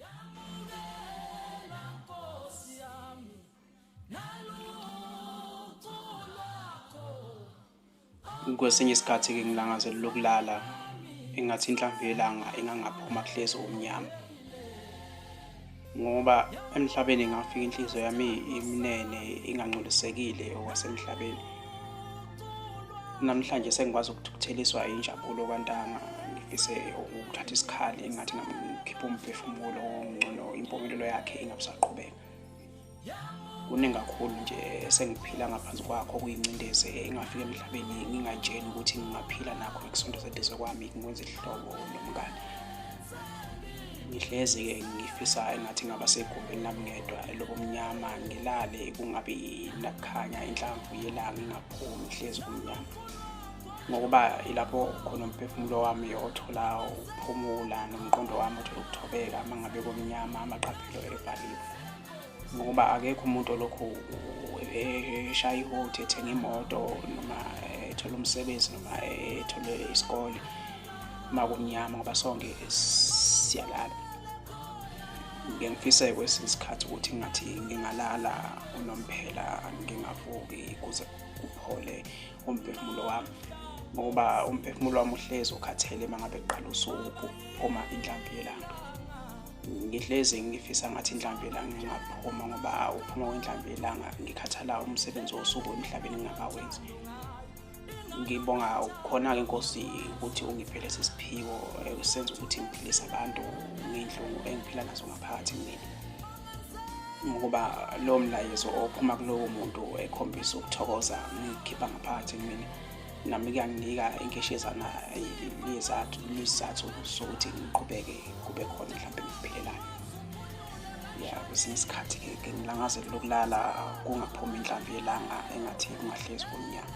Yamukela Nkosi yami nalutho lwakho kwesinye isikhathi-ke ngilangazela lokulala engathi inhlamvu yelanga engangaphuma kuhlezi umnyama ngoba emhlabeni ngafika inhliziyo yami imnene ingangcolisekile okwasemhlabeni namhlanje sengikwazi ukuthukutheliswa injabulo kwantanga ngifise ukuthatha isikhali engathi ngikhipha umphefumulo ngcono impumelelo yakhe ingabusaqhubeka kuningi kakhulu nje sengiphila ngaphansi kwakho kuyincindezi engafika emhlabeni ngingayitsheni ukuthi ngingaphila nakho ngikusondeza eduze kwami ngikwenza ihlobo nomngane ngihlezi-ke ngifisa engathi ngaba segumbini lami ngedwa elobumnyama ngilale kungabi nakukhanya inhlamvu yelanga ingaphumi hlezi kumnyama ngokuba ilapho khona umphefumulo wami othola ukuphumula nomqondo wami othola ukuthobeka uma ngabe kumnyama amaqaphelo evaliwe ngokuba akekho umuntu olokhu eshaya ihothi ethenga imoto noma ethole umsebenzi noma ethole isikole uma kumnyama ngoba sonke siyalala ngike ngifise kwesinye isikhathi ukuthi ngathi ngingalala unomphela ngingavuki kuze kuphole umphefumulo wami ngoba umphefumulo wami uhlezi ukhathele uma ngabe kuqala usuku phuma inhlambi yelanga ngihlezi ngifisa ngathi inhlamvu elanga ngingaphuma ngoba uphuma kwenhlamvu elanga ngikhathala umsebenzi wosuku emhlabeni ngingakawenzi ngibonga khona-ke nkosi ukuthi ungiphe lesi siphiwo eh, senza ukuthi ngiphilise abantu ngey'nhlungu engiphila nazo ngaphakathi mina ngokuba lowo mlayezo ophuma kulowo muntu ekhombisa ukuthokoza ngikhipha ngaphakathi kumina nami kuyanginika inkeshezana lezathu lezathu sokuthi ngiqhubeke kube khona mhlawumbe ngiphelelayo ya kwesinye isikhathi ke ngilangazele lokulala kungaphumi inhlambi yelanga engathi kungahlezi kumnyama